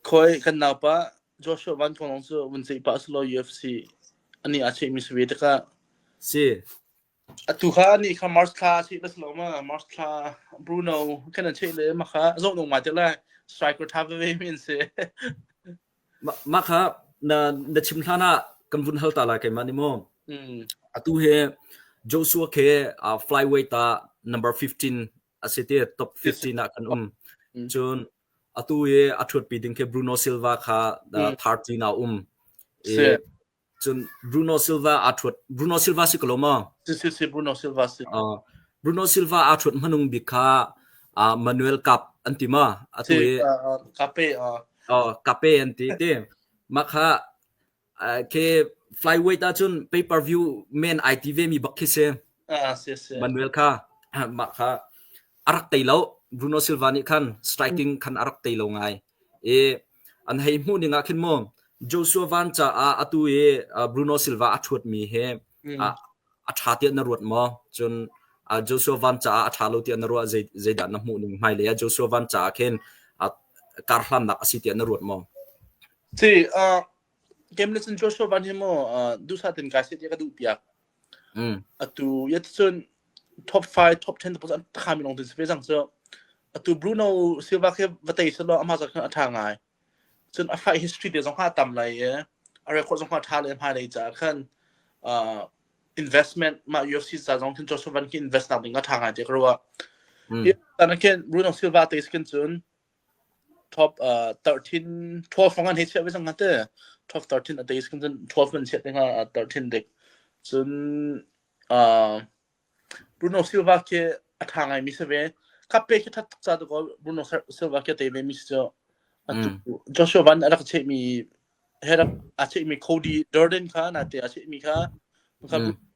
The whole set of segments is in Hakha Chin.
Khawi kan naupa Joshua Van Kong lawng cu vun ceih pah selaw UFC a nih aa chehmi si ve tikah si atu kha nih kha March thla cheh la selaw ma March thla Bruno kan an cheh le ma kha zoh nung ma te lai striker tha veve mi an si mah kha na na chim hlan ah kan vun hal ta lai keimah ni maw atu he Joshua ke flyweight ah number 15 asi ti top 15 ah kan um cun atu i a ṭhutpi ding khi Bruno Silva kha third team ah um i cun Bruno Silva aa ṭhut Bruno Silva si ko lo maw si si si Bruno Silva si Bruno Silva aa ṭhut hmanung bik kha Manuel Cup an ti ma atu i Cape Cape an ti ti mah kha khi flyweight ahcun pay per view men ai ti ve mi bak khi si Manuel kha mah kha arak tei lo Bruno Silva nih khan striking khan arak tei lo ngai i an hei hmuh ning ah khin mo Joshua Van ca ah atu i Bruno Silva a thuat mi he a tha tiah na ruat mo cun Joshua Van ca ah a tha lo tiah na ruah zeidah na hmuh ning hmai le Joshua Van ca ah khin kar hlannak asi tiah na ruat mo Ci, uh, game na cun Joshua Van hi maw uh, dusa tin kai se ka duh piak. Mm. Atu yet cun top 5, top 10 tapos an khami long tin se jang so atu Bruno Silva ke vatei se lo ama zak a tha ngai. Cun a fight history te zong ha tam lai e. A record zong ha tha le ma dei cha khan uh, investment ma UFC sa zong tin Joshua Van ki invest nak ding a tha ngai te kro wa. Mm. Tan ken Bruno Silva te skin cun top uh 13 12 fangan he chiah vesang ngate 12 13 ateis kan cun 12 man chiat denga 13 dek cun uh Bruno Silva ke atha ngai mi save kape ke that tak cha to ko Bruno Silva ke te ve mi so Joshua Van arak che mi herak a che mi Cody Durden kha na te a che mi kha ka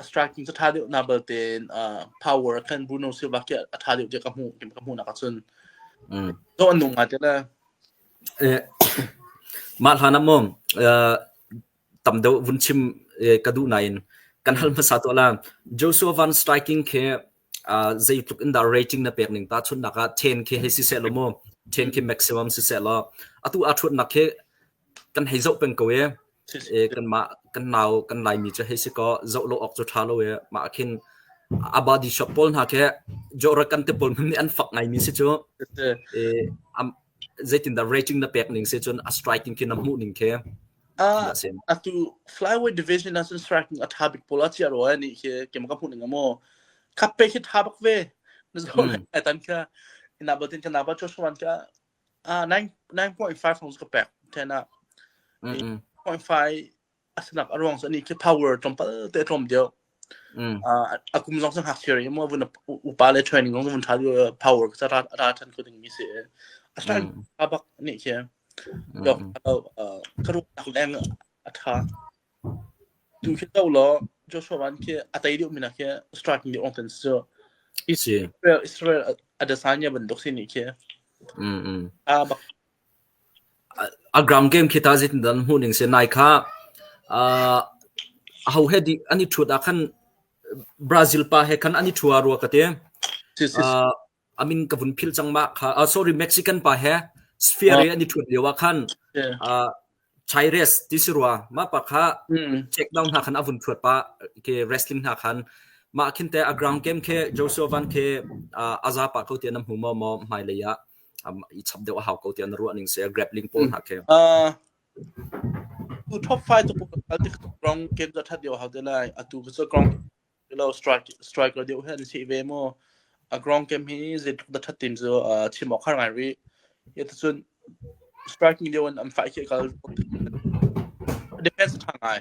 a striking cu ṭha deuh na bal tein uh, power khan Bruno Silva khi a ṭha deuh tiah ka hmuh ka hmuh nak ahcun mm. zo an nung ngai tila eh, mah hlan am tam deuh vun chim ka duh nain kan hal hmasa to la Joshua Van striking ke zei tluk in da rating na pek ning ta chun naka 10 ke he si se lo mo 10 ke maximum si se lo atu a thut nak ke kan hei zoh peng ko i e, kanmah kan nau kan laimi cu hei si kaw zoh lo awk cu ṭha lo i mah ah khin abadi shop pawl hna khi jawra kan te pawl nih an fak ngaimi si cu e, zeitindah rating na pek ning si cun a striking khi na hmuh ning khi a atu flyweight division ah cun striking a ṭha bik pawl a cia roi ni khi kem ka hmuh ning amaw khappe hi ṭha bak ve na zo ai tan kha ina batin kana ba cho shwan ka Ah nine nine point five hnu ka pek ten ah mm mm point five a sinak a ruang so ni khi power tlawmpal te tlawm dio mm ah akum zong sang hak theory mo vun upa le training zong vun tha power ka ra ra chan ku ding mi se a stan mm abak ni khi mm dok ka ru tak leng a ṭha. Tum khin do law Joshua van khi a tei deuh mi hna khi striking deuh ongten si cu. I si. Israel Israel adesanya bantuk si nih khi mm mm a bak a ground game khi ta zitin dan hmu ning se nai kha a ho he di ani thut a khan Brazil pa he khan ani thua ru ka te si si a min ka vun philh cang mah kha. Uh, sorry, Mexican pa he Sphere ah an i ṭhuat lio ah khan uh, Chaires ti si rua mah pa kha check down hna khan a vun ṭhuat pa ke wrestling hna khan mah khinte a ground game ke Joseph Van ke uh, aza pa ko ti an hmu mo mo mai le ya i chap deu a hau ko ti an ruaning se grappling pole hna ke tu top 5 tu al ti ground game da that dio hau te lai atu ko ground lo strike strike lo deuh he an si ve maw a ground game hi zeitluk da that tim cu chim awk har ngai rih hi ta cun striking lio in an fight khi kal defense tha ngai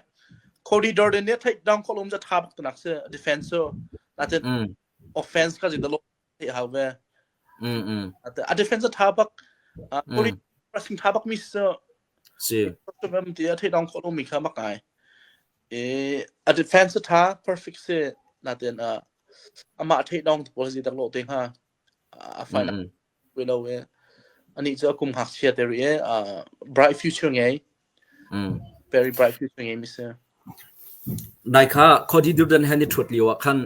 Cody Durden nih theih dang kholum ja tha bak nak se defense so natin offense ka ji da lo theih hau ve. Mm mm. A, a defense a tha bak uh, poli Mm. pressing tha bak mi si si. em ti a theih dong khawh lo mi kha mak ngai. E a defense a tha perfect si na ten a ama theih dong tu policy tak lo te ha a final Mm mm. we lo e ani chu akum hak sia te ri e uh, bright future ngai Nai kha Khawdi Durdan he ni ṭhut lioah khan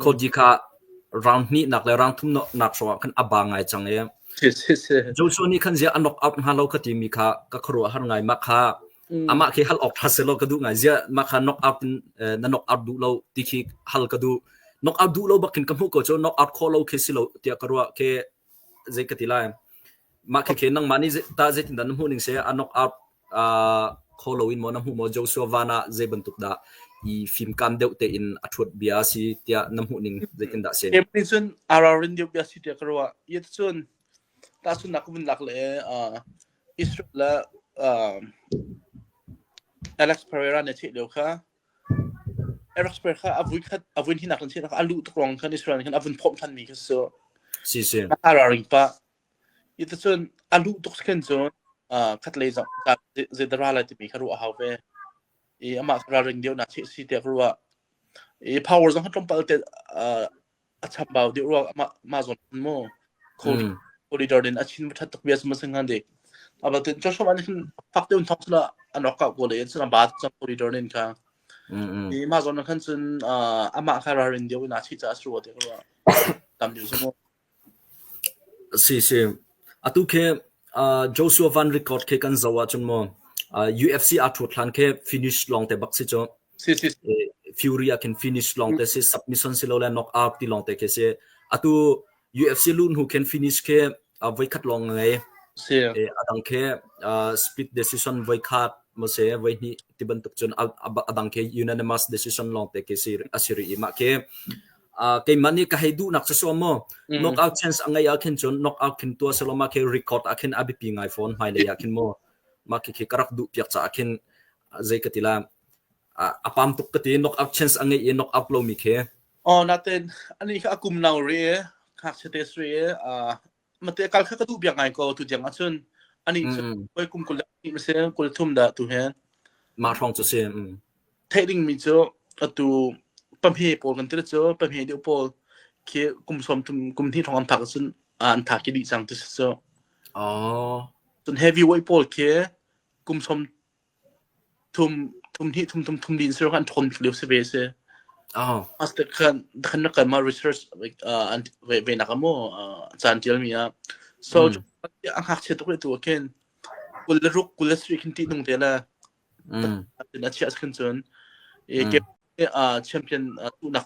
Khawdi kha rang hnihnak le rang thumnak hrawngah khan a ba ngai cang i Joshua nih khan ziah a knock out hnga lo ka timi kha ka khuaruahhar ngai. Mah kha amah khi hal awk ṭha si law ka duh ngai. Ziah mah kha knock out in na knock out duh lo ti khi hal ka duh. Knock out duh lo bakin ka hmuh ko cu knock out khawh lo khi si lo tiah ka ruah khi zei ka ti lai. Mah khi khin nangmah nih tah zeitindah na hmuh ning seh a knock out uh, kho lo in maw na hmuh maw Joshua van ah zei bantuk dah i fimkam deuh tein a thuat bia si tiah na hmuh ning zeitindah sen April cun ararin deuh bia si tiah ka ruah yet cun ta cun nak vun lak le uh, Israel le uh, Alex Pereira ne theih leo kha Airospace kha a vui khat a vuinhnak in si a luh tuk ruang khan Israel nih khan a vun phomh ṭhan mi kha cu Si si. a hararing pah. Hi ti cun a luh tuk khin cun uh, khatlei zong ta zei da ra lai timi kha ruah a hau ve. I amah kha ralring deuhnak si si tiah ka ruah. I power zong kha tlawmpal te uh, a chambau dih rua mah mah zawn an maw Mm. corridor in a chin thath tuk bias ma singan de aber tin cho shom an hin fak deun thong sala an rock ka go le in sala ba chang corridor nin kha Mm mm. ni ma zawn khan chun ama kha rar in deu na chi cha su de rua tam ju sumo si si atu khe uh, Joshua Van record khe kan zawa chun mo uh, UFC a thut thlan khe finish long te bak si cho Fury ah khin finish long te si submission si lo le knock out ti long te khi si atu UFC lu hnu khin finish khi voi khat long ngai adang khi split decision voi khat mo se voi hni ti bantuk chun adang khi unanimous decision long te khi si asiri ima khi keimah ni ka hei du nak so mo knock out chance angai a khin chun knock out khin tua seloma ke record a khin abipi ngai phone mai le ya khin mo ma khi karak du piak cha khin zei ka ti la a pam tuk ka ti knock out chance a ngei i knock out lomi khi oh natin ani kha akum nau re ngakchia te sre mate kal kha ka du bia ngai ko tu jang achun ani oi kum kul ni mase kul thum da tu he ma thong chu si thading mi chu atu pamhe pol kan tir chu pamhe de pol khi kum som tum kum thi thong am thak sun an tha ki di sang tu so oh sun heavy weight pol khi kum som thum thum hnih thum thum thum din sir kan thon leu se ve se oh as the kan the kan na ma research an ve na kamo chan til mi a so a hak che to to ken kul ruk kul sri kin ti nung te la mm a chia kan chun e ke a champion tu nak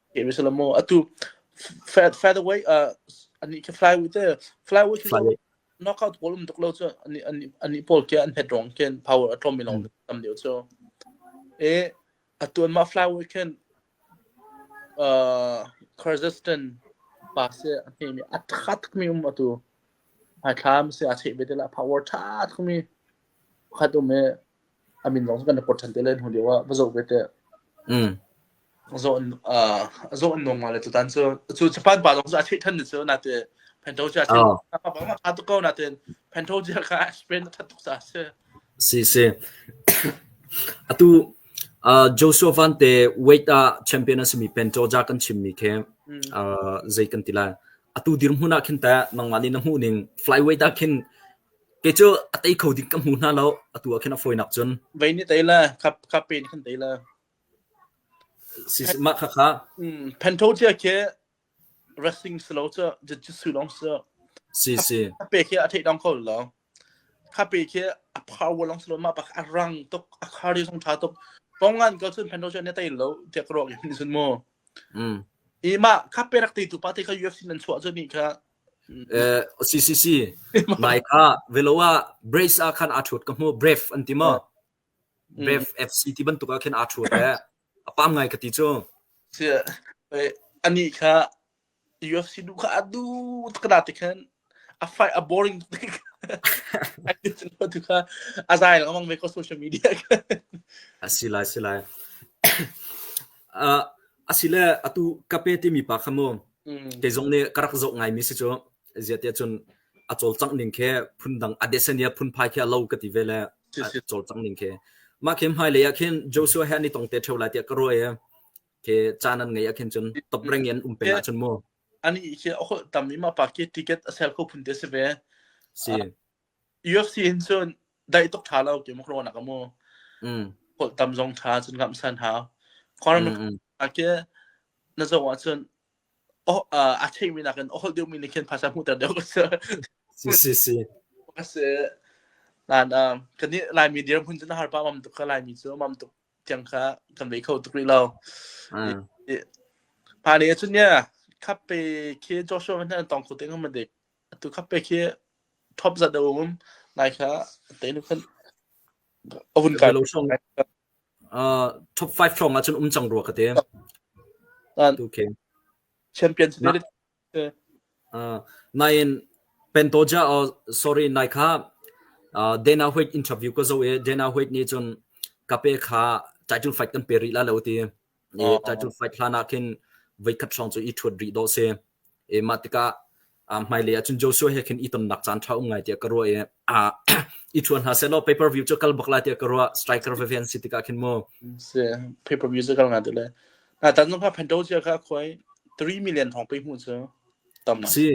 Game is a lot more. Atu Fat Featherweight uh ani ke flyweight te flyweight cu Flyweight. knockout goal um tuk lo cu ani ani ani pol ke an het rong ken power atlom mi long tam deu cu. E atu an ma flyweight ken uh Kyrgyzstan pa se ani mi atkhat mi um atu ai thlam se a che be de la power tha mi khat um e a min lawng cu kan rak port ṭhan te le hnu lio ah va zoh ve teh mm. zaw an uh, zaw an nung le tutan cu cu japan pa lawng cu a theih than cu na te pento cu a theih pa pa ma tha ko na ten pento ji ka spain that tuk sa se si si atu uh, Joshua Van te weight a champion asimi pento ja kan chim mi khe uh, zei kan tila atu dir hmuna khin ta nangma ni na mu ning flyweight a khin Kei cu a tei kho ding ka hmu hna lo. Atu ah khin a fawi nak cun. Vei nih tei le khap khap pe in khan tei le. Si mah kha kha. Mm, Pento tia ke wrestling slow cu jujitsu long su. Si si. Kha pe ke a thei dong ko lo. Kha pe ke a power long slow ma pak a rang tuk a kari song tha tuk. Pongan ko cun Pento tia ne tei lo tiak ro ki ni sun mu. Mm. Ima kha pe rak tei tu pa te kha UFC nan chua cu ni kha CCC nai kha velo ah brace ah khan aa ṭhut ka hmuh brave an ti maw brave FC ti bantuk ah khin aa ṭhut e a pam ngai ka ti cu anih kha UFC nu kha a du tkana te khan a fight a boring tu kha a zai lawmang ve ko social media a si lai si lai a si le atu kape timi pa kha mu Mm. Kei zong nih ka rak zoh ngaimi si cu ziahtiah cun a cawlcangh ning khi phundang a desania phunphai khi a lo ka ti ve le a cawlcangh ning khi mah khi hmai lei ah khin Joshua he ni tong te theo lai tiah ka ruai ke chan an ngei akhin chun top reng in um pe la chun mu ani ke a hol tam ima pa ke ticket a sel kho phun te se ve si York si hin cun daih tuk ṭha lo ti muk rawn a ka mu. Mm. Holh tam zong ṭha cun kamh san hau. Khawar mm mm. a ke na zo ah cun oh uh, a theimi nakin ohol deuhmi nih khin phasa hmuhter deuh ka si. Si si si. Ka si. Nan um, kan ni Laimi dir hun cun har pa mam tuk ka Laimi cu mam tuk tiang kha kan vei kho tuk rih lo. Mm. Pa ni cun yeah, khappe ke Joshua van han tong khu ting ma dik Atu kha pek hi top zat a um. Nai kha teinu khan a vun kai. Uh, top 5 hrawng ahcun um cang rua ka te. Okay. Champion spirit. Uh, nain Pentoja or sorry nai kha uh, Dana White interview ko zo e Dana White ni chun kape kha title fight kan pe ri la lo ti i title fight hlan ah khin veikhat hrawng cu i thuat rih dawh si e mah tikah hmailei ah cun Joshua he khin i tonnak caan tha um ngai tiah ka ruah i i thuan hna selaw pay per view cu kal bak la tiah ka ruah striker ve ve an si tikah khin mu si pay per view cu kal nga ti le na tan no pa phanto cia ka khoi 3 million hong pe mu cu tam si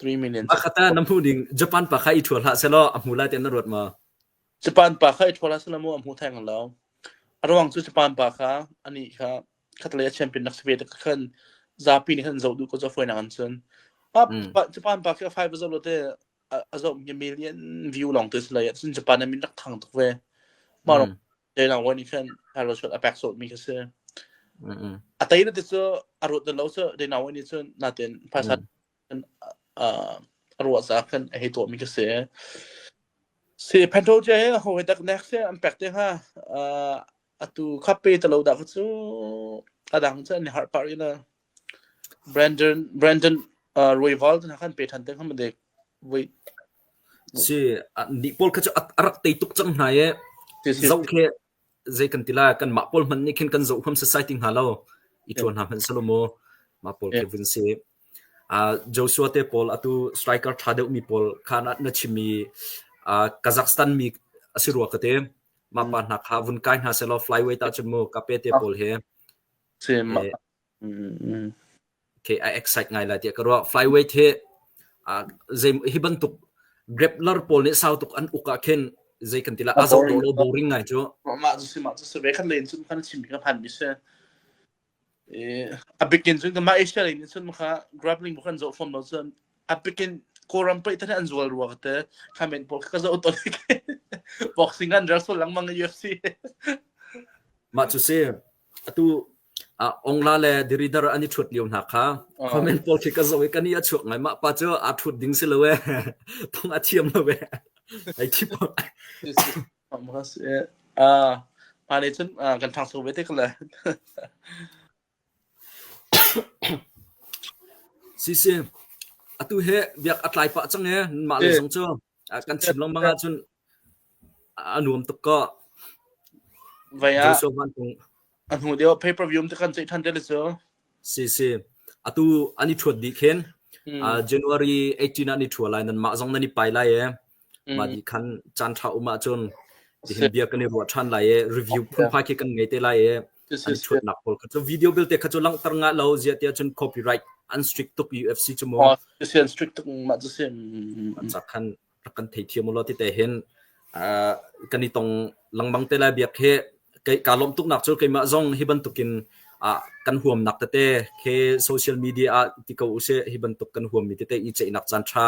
3 million ma khata na mu ding japan pa kha i thual ha selo a mu la tian na ruat ma Japan pa kha i ṭhawl ah selamu a hmu theng lo. A ruang cu Japan pa kha anih kha khatlei a champion nak si ve ka khan zapi nih khan zoh duh ko zaw fawinak an sun. Pa, Mm. pa, Japan pa khi a five a zoh lo te a, a zoh mi a million view lawng te si lai cun Japan a min rak thang tuk ve. Mah rawng dei lang wan i khan Carlos a pek sawt mi kha si. A tai na ti cu a ruat na lo cu dei na wan i cun natin phaisa a ruah caah khan a hei tuahmi ka si. Si Phanto cia hi ho he dak nek se an pek te hnga atu khape talo dah kha cu adang cu an har par ina Brandon Brandon Royval na khan pe than te hnga madek voi si ni pol kha chu arak tei tuk chang hna ye zau khe zei kan tila kan ma pol man ni khin kan zo kham society nga lo i thon ha man salomo ma pol ke vun si Joshua te pawl atu striker ṭha deuhmi pawl kha na chim i Kazakhstan mi a si rua ka ti. Mah pa hna kha vun kai hna sehlaw flyweight ahcun mu Kape te pawl hi okay, a excite ngai lai tiah ka ruah. Flyweight hi hi bantuk grappler pawl nih sau tuk an uk ah khin zei kan ti lah a zoh ring lo boring ngai cu. Mah cu si mah cu si ve kan len cun kan chim mi kan phan mi si. a bikin cun mah asia lei nih cun maka grappling bu kan zo fom lo cun a bikin kawram pei than an zual ruwa te khamen pol ka zo to like boxing an reso lang mang UFC ma chu se atu ongla le diridar ani thut liu na kha comment pol khi ka zo ka ni a chuak ngai ma pa chu a thut ding si lo e thong a thiam lo e ai thi Hma nih cun kan ṭhangcho ve te ko lai. Sisi, atu hi biak a tlai pah cang ee. Mah le zong cu kan chim lengmang ahcun a nuam tuk ko. Vai ah a hnu deuh pay per view te kan ceih ṭhan te le cu. Sisi, atu an i ṭhuat dih khin January 18 ah ni ṭhua lai nan mah zong nan i pai lai ee. Mah ni khan caan ṭha um ahcun hihin bia kan i ruah ṭhan lai i review phunphai khi kan ngei te lai i an chuatnak pawl kha cu video belte kha cu langhter nga lo ziah tiah cun copyright an strict tuk UFC cu maw an strict tuk mah cu si cak khan rak kan thei thiam ulo ti te hin kan i tong lengmang te lai biak hi ka lawm tuk nak cu keimah zong hi bantukin kan huamnak tete he social media ah ti ko use hi bantuk kan huam mi tete i ceihnak caan ṭha